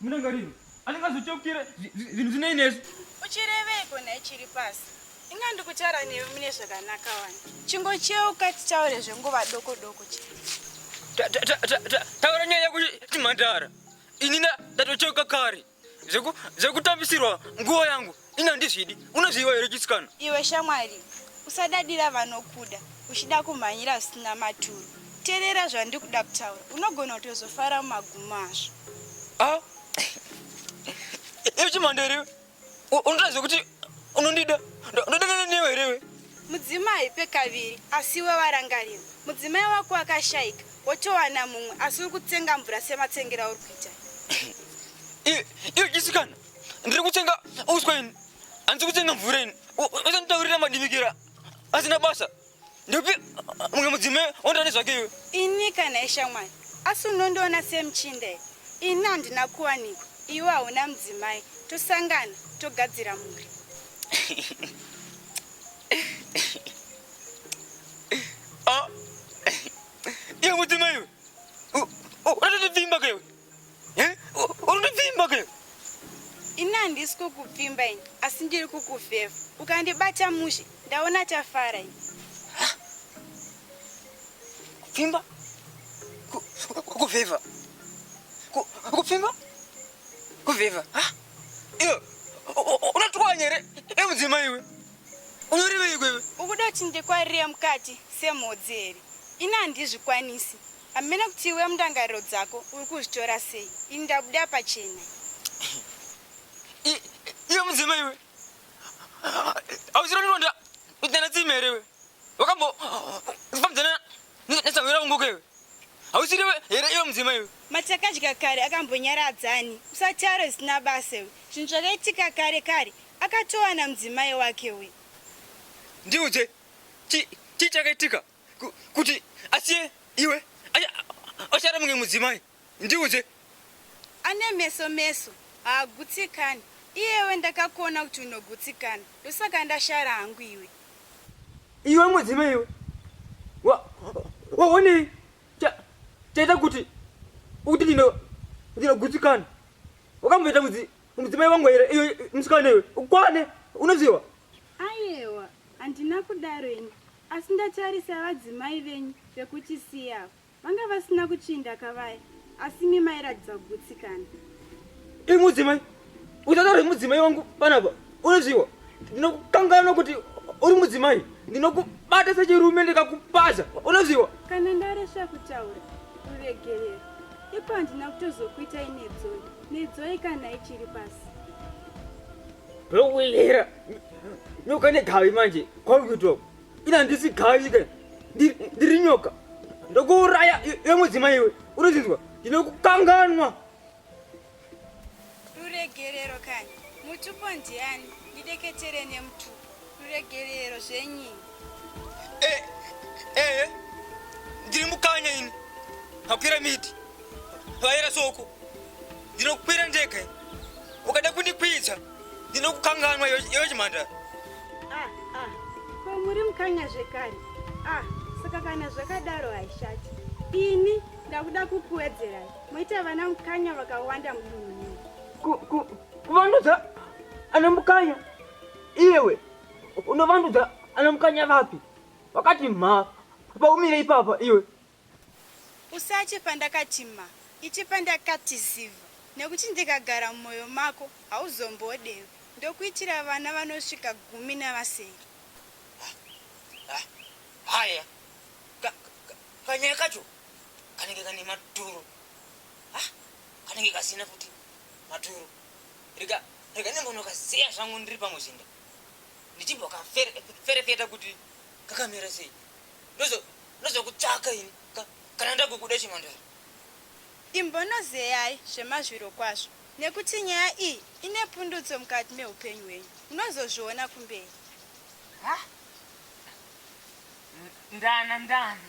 Murangariro anenge azotyokera zvinhu zvinei nesu. Uchireveiko nhai chiri pasi? Inga ndikutaura newe mune zvakanaka wani. Chingocheuka titaure zvenguva doko doko chete. Taura nyaya yako chimhandara. Inini ndatocheuka kare zvekutambisirwa nguva yangu. Ini handizvidi. Unozviziva here chisikana? Iwe shamwari, usadadira vanokuda uchida kumhanyira zvisina maturo. Terera zvandiri kuda kutaura. Unogona kutozofara mumagumo azvo. Ah. Iwe chimhando here? Unotaridza kuti unondida. Ndodanana newe here iwe? Mudzimai pekaviri asi iwe warangarira. Mudzimai wako akashaika wotowana mumwe asi uri kutsenga mvura sematsengera uri kuita. Iwe chisikana. ndiri kutsenga uswa ini handisi kutsenga mvura ini usanditaurira madimikira asina basa ndopi mumwe mudzime ondane zvake iwe ini kana ishamwari asi unondiona semuchinde ini handina kuwanikwa iwe hauna mudzimai tosangana togadzira mhuri ah, iwe mudzimai iwe uratotipfimba kaiwe Eh? Unondipfimba ke? Ini handisi kukupfimba ini, asi ndiri kukufeva. Ukandibata mushe, ndaona tafara ini. Kupfimba? Kufeva? Kupfimba? Kufeva? Iyo, unatwanya here? Emudzima iwe. Unyoreveiko iwe? Ukuda kuti ndikwarire mukati semhodzi here? Ini handizvikwanisi. Hameno kuti iwe mundangariro dzako uri kuzvitora sei. Ini ndabuda pachena. I- Iwe mudzimai iwe. Hausiro ndironda kudzana tsime here iwe? Wakambo kufambidzana nesangwira unguka iwe. Hausiri iwe here iwe mudzimai iwe. Matakadya kare akambonyaradzani. Usataure zvisina basa iwe. Zvinhu zvakaitika kare kare Akatowana mudzimai wake uyu. Ndiudze chi chi chakaitika ku- kuti asiye iwe acha- achara mumwe mudzimai ndiudze Ane meso meso haagutsikani. Iyewe ndakakuona kuti unogutsikana ndosaka ndashara hangu iwe. iwe mudzimai iwe Wa- waonei cha- chaita kuti kuti ndino- ndinogutsikana wakamboita mudzi- Mudzimai wangu here iyo musikana iwe ukwane unoziva? Ayewa handina kudaro ini asi ndatarisa vadzimai venyu vekuchisiya ava vanga vasina kutsvinda kavaya asi imi mairatidza kugutsikana. Imi mudzimai usataure mudzimai wangu panapa unoziva ndinokukanganwa kuti uri mudzimai ndinokubata sechirume ndikakupaza unoziva. Kana ndaresva kutaura uregerera. Ipo handina kutozokuita inedzoi nedzoi kana ichiri pasi rokuera nyoka negavi manje kwauri kuitwa ina ndisi gavi ke ndiri nyoka ndokuuraya yemudzima iwe unozinzwa ndinokukanganwa Ruregerero kani mutupo ndiani ndideketere nemutupo ruregerero zvenyini eh, eh, eh, ndiri mukanya ini hakwira miti vaera soko ndinokukwira ndega ukada kundikwidza ndinokukanganwa iwe chimhandara ah, ah. ko muri mukanya zvekare ah, saka kana zvakadaro haishati ini ndakuda kukuwedzerai Moita vana mukanya vakawanda mudunhu. Kuvandudza ana mukanya iwe unovandudza ana mukanya vapi? Wakati mha paumire ipapa iwe. Usatye pandakati mha, itye pandakati ziva nekuti ndikagara mumwoyo mako hauzombodewi ndokuitira vana vanosvika gumi navasere haya kanyaya kacho kanenge kane maturo ha kanenge kasina futi maturo rega rega ndimbonokazeya zvangu ndiri pamuzinda ndichimbokaferefeta kuti kakamira sei ndozokutsvaka ini kana ndakukuda chimandara imbonozeyai zvemazviro kwazvo nekuti nyaya iyi ine pundutso mukati meupenyu hwenyu munozozviona kumberi ndana ndana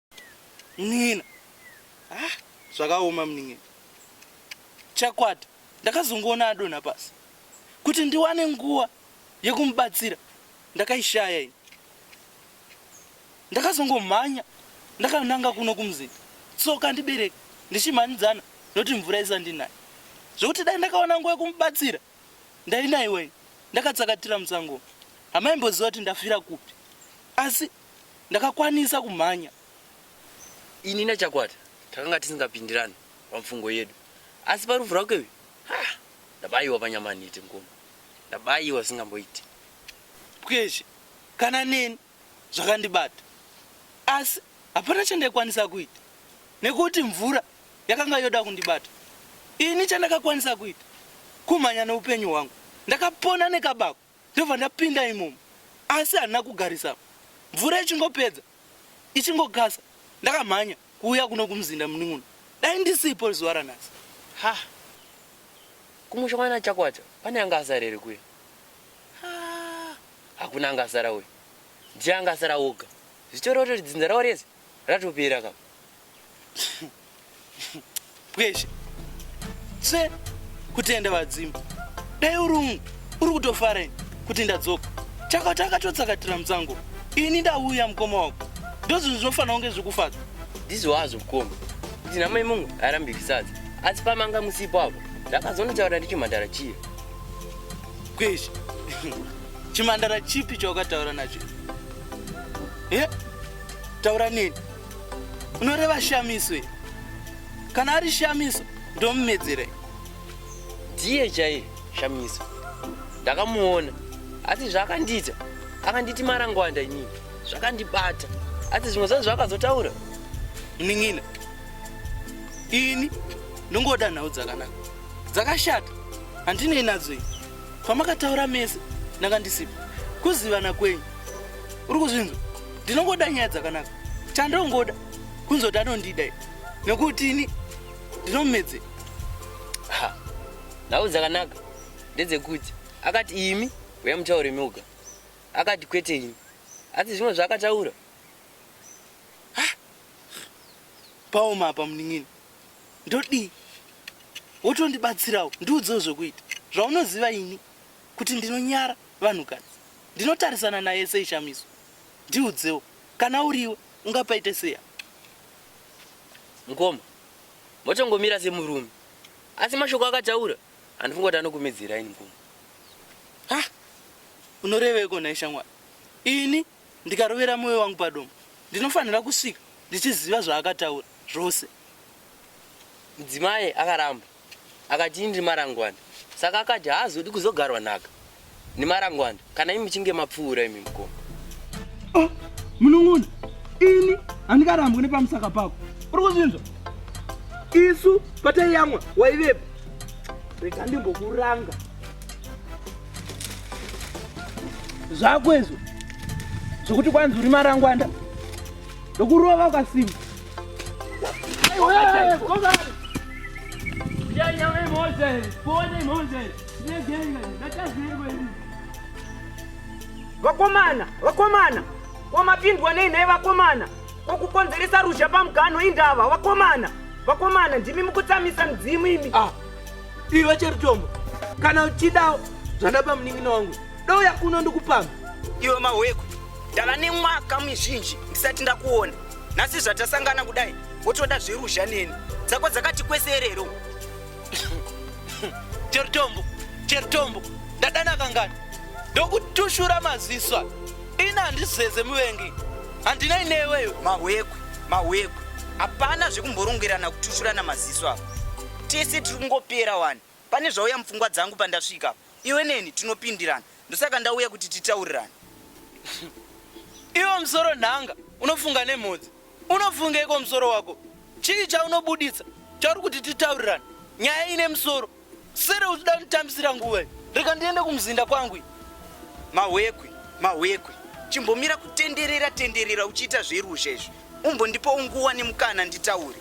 Munin'ina. Ah, zvakaoma munin'ina. Chakwata ndakazongoona adonha pasi. Kuti ndiwane nguva yekumubatsira ndakaishaya ini. Ndakazongomhanya ndakananga kuno kumuzinda. Tsoka ndibereke ndichimhanyidzana noti mvura isandinaye. Zvekuti dai ndakawana nguva yekumubatsira ndainaiwa ini ndakatsakatira musango. Hamaimboziva kuti ndafira kupi. Asi ndakakwanisa kumhanya. Ini naChakwata takanga tisingapindirane pamfungo yedu asi parufu rwake uyu haa ndabaiwa panyama nhete mukoma. Ndabaiwa zvisingamboiti. Pwezve kana neni zvakandibata asi hapana chandaikwanisa kuita nekuti mvura yakanga yoda kundibata. Ini chandakakwanisa kuita kumhanya neupenyu hwangu. Ndakapona nekabako. Ndobva ndapinda imomo asi handina kugarisa mvura ichingopedza ichingokasa ndakamhanya kuuya kuno kumuzinda munin'una dai ndisipo zuva ranhasi. Ha kumusha kwana Chakwata pane anga asara here kuya? Ha hakuna anga asara uyu ndiye anga asara oga zvichoreva kuti dzinza ravo rese Ratopera ka. Pweshe. Se kutenda vadzimba. Dai uri umu uri kutofara ini kuti ndadzoka. Chakati akatotsakatira musango. Ini ndauya mukoma wako. Ndozvinhu zvinofanira kunge zvikufadza. Ndizvo hazvo mukoma. Kuti namai mungu arambiki sadza. Asi pamanga musipo apo. Ndakazonotaura ndichimhandara chiya. Pweshe. Chimhandara chipi chawakataura nacho? Eh? Taura neni. Unoreva shamiso here? Kana ari shamiso ndomumedzera. Ndiye chaiye shamiso. Ndakamuona asi zvaakandiita akanditi marangwanda inini zvakandibata asi zvimwe zvangu zvaakazotaura munin'ina ini ndongoda nhau dzakanaka dzakashata handinei nadzo ini kwamakataura mese ndanga ndisipo kuzivana kwenyu uri kuzvinzwa ndinongoda nyaya dzakanaka chandongoda kunzwa kuti anondida nekuti ini ndinomumedze nhau dzakanaka ndedzekuti akati imi uya mutaure mioga akati kwete ini asi zvimwe zvaakataura paoma apa munin'ini ndodii wotondibatsirawo ndiudzewo zvekuita zvaunoziva ini kuti ndinonyara vanhukadzi ndinotarisana naye sei shamiso ndiudzewo kana uriwe ungapaite seya mukoma mochongomira semurume asi mashoko akataura handifunga kuti anokumidzira ini mukoma ha unoreveiko nhai shamwari ini ndikarovera moyo wangu padombo ndinofanira kusvika ndichiziva zvaakataura zvose mudzimai akaramba akati ini ndiri marangwanda saka akati haazodi kuzogarwa nhaka nemarangwanda kana imi muchinge mapfuura imi mukoma oh, munun'una ini handikarambwi nepamusaka pako uri kuzvinzwa isu pataiyamwa waivepo rega ndimbokuranga zvako izvo zvokuti kwanzi uri marangwanda ndokurova ukasimba vakomana vakomana kwamapindwa nei nhai vakomana kokukonzeresa ruzha pamugano indava vakomana vakomana ndimi mukutsamisa mudzimu imi ah. Iwe Cherutombo, kana uchidawo zvandapa munin'ina wangu, douya kuno ndikupamba. Iwe Mahweku, ndava nemwaka mizhinji ndisati ndakuona. Nhasi zvatasangana kudai, wotoda zveruzha neni. Dzako dzakati kwese erero. Cherutombo, Cherutombo, ndadana kangani? Ndokutushura maziso aya. Ini handizeze muvengi. Handinei neweyo. Mahweku, Mahweku, hapana zvekumborongwerana kutushurana maziso apa. Tese tiri kungopera wani. Pane zvauya mupfungwa dzangu pandasvika apa. Iwe neni tinopindirana. Ndosaka ndauya kuti titaurirane. Iwe musoro nhanga unofunga nemhodzi. Unofungeiko musoro wako? Chii chaunobuditsa chauri kuti titaurirane? Nyaya ine musoro. Sere uchida kunditambisira nguva iyi. Rega ndiende kumuzinda kwangu iyi. Mahwekwe, mahwekwe. Chimbomira kutenderera tenderera uchiita zveruzha izvi. Umbondipawo nguva nemukana nditaure.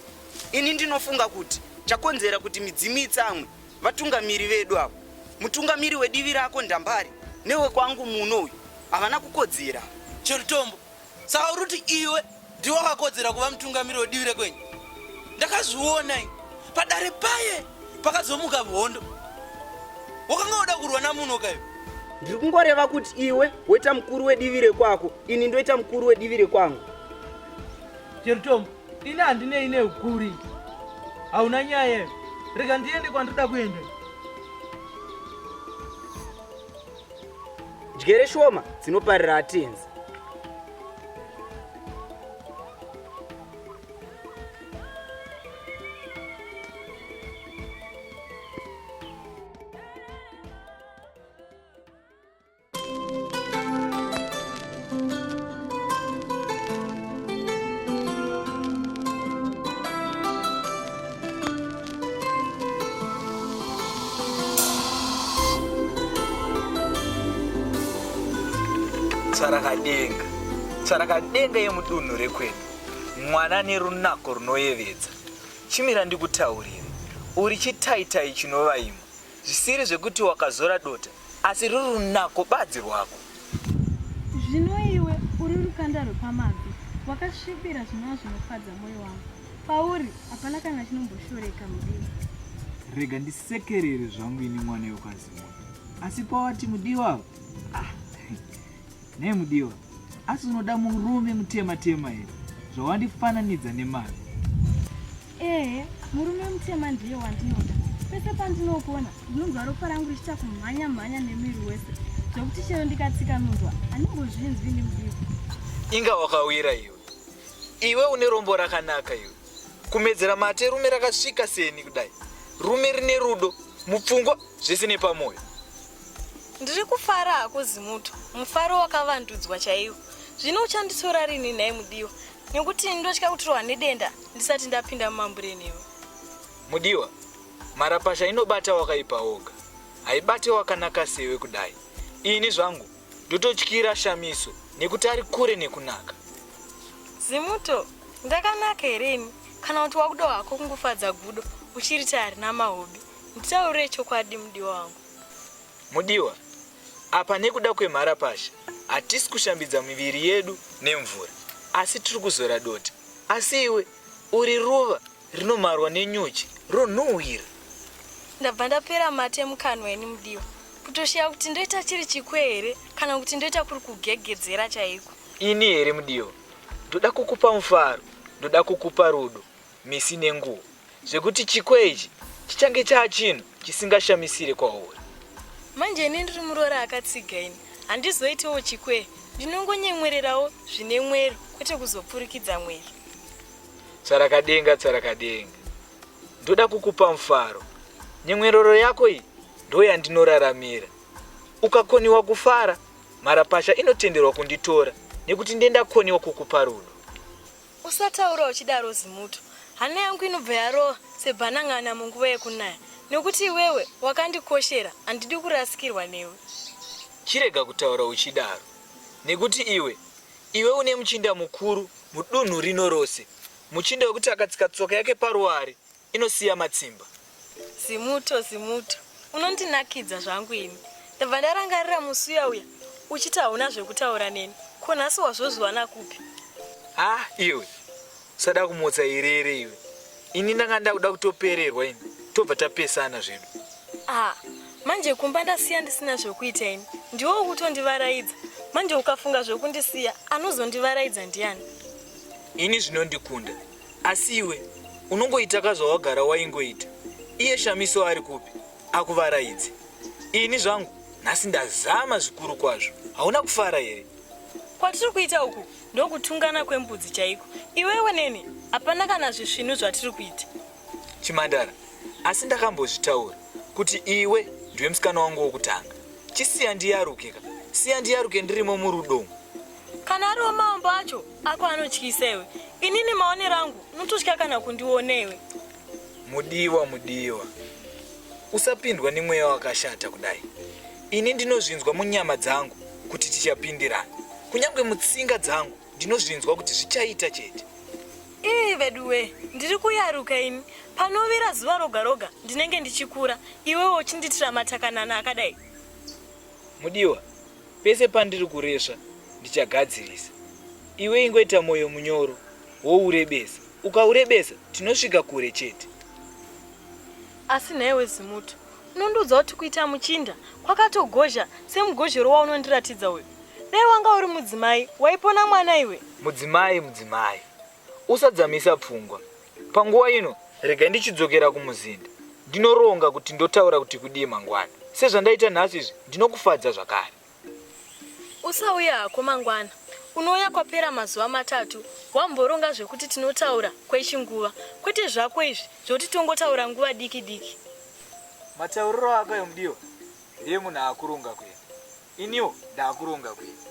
Ini ndinofunga kuti chakonzera kuti midzimu itsamwe vatungamiri vedu avo, mutungamiri wedivi rako Ndambari newekwangu muno uyu havana kukodzera. Cherutombo, saka uri kuti iwe ndiwe wakakodzera kuva mutungamiri wedivi rekwenyu? Ndakazviona ini padare paye pakazomuka hondo, wakanga woda kurwa namuno kaiwe ndiri kungoreva kuti iwe woita mukuru wedivi rekwako ini ndoita mukuru wedivi rekwangu Cherutombo, Ini handinei neukuri. Hauna nyaya. Rega ndiende kwandida kuenda. Jere shoma dzinoparira atenzi. tsvarakadenga tsvarakadenga yemudunhu rekwedu mwana nerunako runoyevedza chimira ndikutaurire uri chitaitai chinovaima zvisiri zvekuti wakazora dota Asi ruri runako badzi rwako. Zvino iwe uri rukanda rwepamabvi, wakasvibira zvinova zvinofadza mwoyo wangu. Pauri hapana kana chinomboshoreka mudiwa. Rega ndisekerere zvangu ini mwana yokwazimota. Asi pawati mudiwa apa, ah, Nei mudiwa? Asi unoda murume mutema tema here? Zvawandifananidza nemari. Ehe, murume mutema ndiye wandinoda. Pese pandinokuona ndinonzwa ropa rangu richiita kumhanya mhanya nemiri wese zvekuti chero ndikatsika munzwa aningozvinzwi nemudiwa. Inga wakawira iwe. Iwe une rombo rakanaka iwe. Kumedzera mate rume rakasvika seni kudai. Rume rine rudo, mupfungwa zvese nepamwoyo. Ndiri kufara hakuzi muto, mufaro wakavandudzwa chaiwo. Zvino uchandisora rini nhai mudiwa? Nekuti ndotya kutirwa nedenda ndisati ndapinda mumambure newe. Mudiwa, marapasha inobata wakaipa woga. Haibate wakanaka sewe kudai. Ini zvangu ndototyira shamiso nekuti ari kure nekunaka. Zimuto, ndakanaka here ini? Kana kuti wakuda hako kungofadza gudo uchiritari namahobi. Nditaurire chokwadi mudiwa wangu. Mudiwa, apa nekuda kwemharapasha hatisi kushambidza miviri yedu nemvura asi tiri kuzora dota. Asi iwe uri ruva rinomarwa nenyuchi ronhuhwira. Ndabva ndapera mate mukanwa ini Mudiwa. Kutoshiya kuti ndoita chiri chikwe here kana kuti ndoita kuri kugegedzera chaiko. Ini here Mudiwa? Ndoda kukupa mufaro, ndoda kukupa rudo. misi nenguva zvekuti chikwe ichi chichange chaa chinhu chisingashamisire kwauri. Manje ini ndiri muroora akatsiga ini handizoitewo chikwe ndinongonyemwererawo zvine mwero kwete kuzopfurikidza mwero. Tsvarakadenga tsvarakadenga ndoda kukupa mufaro nyemwerero yako iyi ndoyandinoraramira ukakoniwa kufara mharapasha inotenderwa kunditora nekuti ndendakoniwa kukupa rudo Usataura uchidaro Zimuto. Hana yangu inobva yarova sebhanan'ana munguva yekunaya nekuti iwewe wakandikoshera handidi kurasikirwa newe. Chirega kutaura uchidaro nekuti iwe iwe une muchinda mukuru mudunhu rino rose. Muchinda wekuti akatsika tsoka yake paruware inosiya matsimba. Zimuto Zimuto unondinakidza zvangu ini ndabva ndarangarira musi uya uya uchiti hauna zvekutaura neni ko nhasi wazvozviwana kupi Ah, iwe usada kumutsa irere iwe. Ini ndanga ndakuda kutopererwa ini tobva tapesana zvedu. ah manje kumba ndasiya ndisina zvekuita ini ndiwo ukutondivaraidza manje ukafunga zvekundisiya anozondivaraidza ndiani Ini zvinondikunda Asi iwe unongoita ka zvawagara waingoita. Iye Shamiso ari kupi? Akuvaraidze. Ini zvangu nhasi ndazama zvikuru kwazvo. Hauna kufara here? Kwatiri kuita uku ndokutungana kwembudzi chaiko. Iwewe neni hapana kana zvisvinu zvatiri kuita. Chimandara, asi ndakambozvitaura kuti iwe ndiwe musikana wangu wokutanga. Chisiya ndiyaruke ka. Siya ndiyaruke ndirimo murudo umu. Kana ariwo mambo acho ako anotyisa iwe. Inini maonero angu unototya kana kundiona iwe. Mudiwa mudiwa. Usapindwa nemweya wakashata kudai. Ini ndinozvinzwa munyama dzangu kuti tichapindirana. Kunyangwe mutsinga dzangu ndinozvinzwa kuti zvichaita chete. Ii veduwe, ndiri kuyaruka ini. Panovira zuva roga roga ndinenge ndichikura. Iwewe uchindiitira matakanana akadai. Mudiwa, Pese pandiri kuresva ndichagadzirisa. Iwe ingoita moyo munyoro wourebesa. Ukaurebesa tinosvika kure chete. Asi nhaiwe Zimuto, unondiudza kuti kuita muchinda kwakatogozha semugozhero waunondiratidza uyu. Dai wanga uri mudzimai waipona mwana iwe. Mudzimai mudzimai. Usadzamisa pfungwa. Panguva ino, regai ndichidzokera kumuzinda. Ndinoronga kuti ndotaura kuti kudii mangwana. Sezvandaita nhasi izvi, ndinokufadza zvakare. Usauye hako mangwana. Unouya kwapera mazuva matatu wamboronga zvekuti tinotaura kwechinguva, kwete zvako izvi zvokuti tongotaura nguva diki diki. Matauriro ako ayo mudiwa ndeemunhu akuronga kuenda. Iniwo ndakuronga kuenda.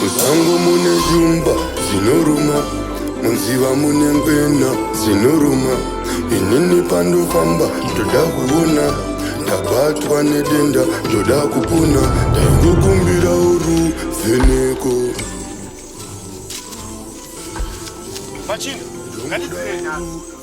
Musango mune jumba zinoruma, munziva mune ngwena zinoruma. Inini pandofamba ndoda kuona, ndabatwa nedenda ndoda kupona, ndaingokumbira uruvheneko. Machini, ngandidzinei nhasi.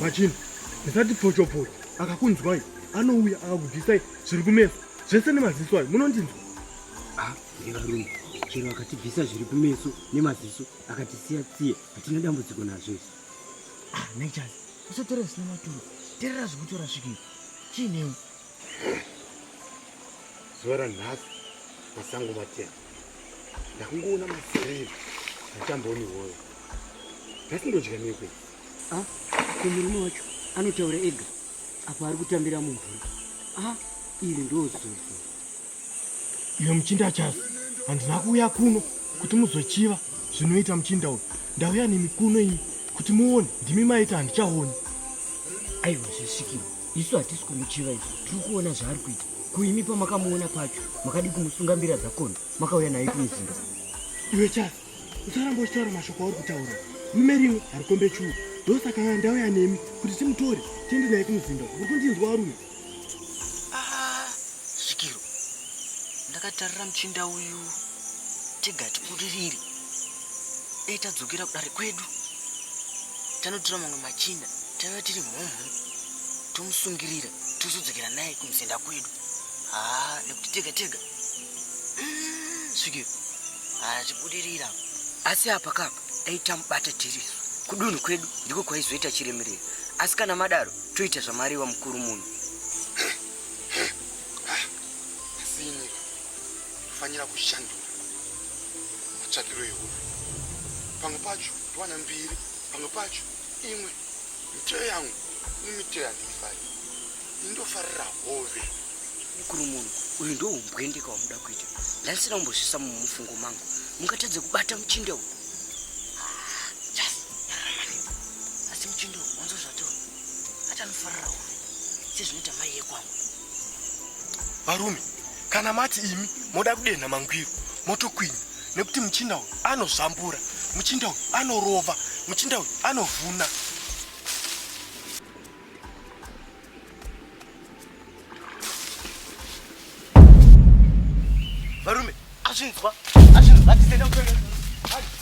machini ndisati pfochopfocho akakunzwai anouya akakubvisai zviri kumeso zvese nemaziso ayo munondinzwa ah, evarume chero akatibvisa zviri kumeso nemaziso akatisiya tsiye hatina dambudziko nazvo isi ah, naichai usatora zvisina maturo terera zvikutora svikei chiinewo zuva ranhasi masango matema ndakungoona mafurei atamboni woyo nhasi ndodya nekwe ah, ko murume wacho anotaura ega apo ari kutambira mumvura a ah, iri ndozozo iyo muchinda achasi handina kuuya kuno kuti muzochiva zvinoita muchinda uyu ndauya nemikuno iyi kuti muone ndimi maita handichaoni aiwa zvesvikirwa isu hatisi kumuchiva isu tiri kuona zvaari kuita kuimi pamakamuona pacho makadii kumusunga mbira dzakona makauya naye kumuzinda iwe chasi usaramba uchitaura mashoko auri kutaura rume rimwe harikombe chuu ndosaka aa ndauya nemi kuti timutore tiende naye kumuzinda uri kundinzwa warume ah, zvikiro ndakatarira muchinda uyu tigati kuririri dai tadzokera kudare kwedu tanotora mamwe machinda taiva tiri mhomho tomusungirira tozodzokera naye kumusenda kwedu haa nekuti tega tega mm, svikiro hatibudirira asi apa kapa dai tamubata tirisu kudunhu kwedu ndiko kwaizoita chiremerera asi kana madaro toita zvamariwa mukuru munhu asi inyika kufanira kushandura matsvakiro ehove pamwe pacho ndiwana mbiri pamwe pacho imwe miteyo yangu nemiteyo yandiifari indofarira hove mukuru munhu uyu ndoumbwendeka wamuda kuita ndaisina kumbozvisa mumufungo mangu mungatadze kubata muchinde uyu asi muchinde uyu wanzo zvato atanofarira hove sezvinoita mai yekwangu varume Kana mati imi moda kudenha mangwiro motokwinya nekuti muchinda uyu anozvambura, muchinda uyu anorova, muchinda uyu anovhuna. Varume, azvinzwa, azvinzwa, atizenda kutoenda.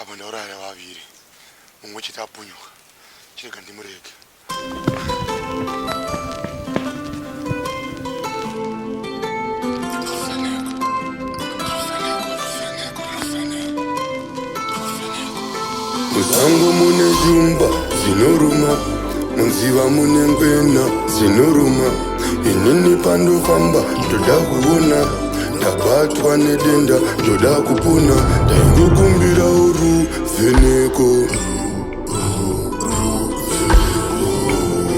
apa ndauraya vaviri mumwe chete apunyuka chirega ndimurege Musango mune shumba dzinoruma, munziva mune ngwena dzinoruma. Inini pandofamba ndoda kuona, ndabatwa nedenda ndoda kupona. Ndaingokumbira uruvheneko